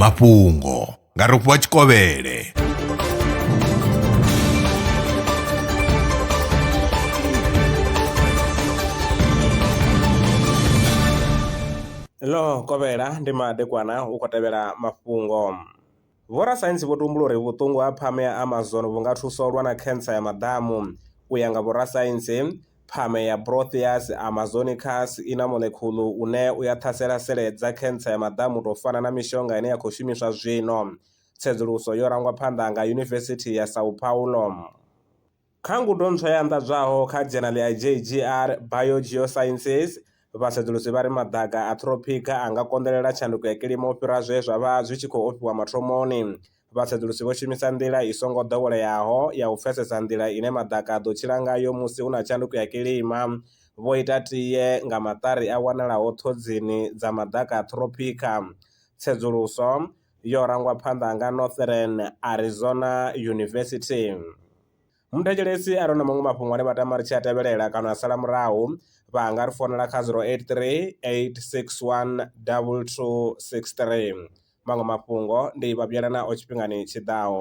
mafhungo nga rofhiwa tshikovhele ḽo kovhela ndi madekwana u khou tevhela mafhungo Vhorasaintsi vho tumbula uri vhuṱungu ha phamu ya Amazon vhu nga thusa u lwa na khensa ya maḓamu. U ya nga vhorasaintsi, phamu ya Proteus amazonicus i na molekhulu une u ya ṱhasela sele dza khensa ya maḓamu u tou fana na mishonga ine ya khou shumiswa zwino. Tsedzuluso yo rangwa phanḓa nga Yunivesithi ya São Paulo. Kha ngudo ntswa i anḓadzwaho kha dzhenali ya JGR, Bio-Geosciences, vhasedzulusi vha ri maḓaka a ṱhiropikha a nga konḓelela tshanduko ya kilima u fhira zwe zwa vha zwi tshi khou ofhiwa mathomoni. Vhasedzulusi vho shumisa nḓila i songo ḓoweleaho ya u pfesesa nḓila ine maḓaka a ḓo tshila ngayo musi hu na tshanduko ya kilima, vho ita tie nga maṱari a wanalaho ṱhodzini dza maḓaka a ṱhiropikha. Tsedzuluso yo rangwa phanḓa nga Northern Arizona University. Muthetshelesi a re na maṅwe mafhungo ane vha tama ri tshi a tevhelela kana a sala murahu vha nga ri founela kha 083 861 2263. Maṅwe mafhungo ndi vha vhuyelana o tshifhingani tshiḓaho.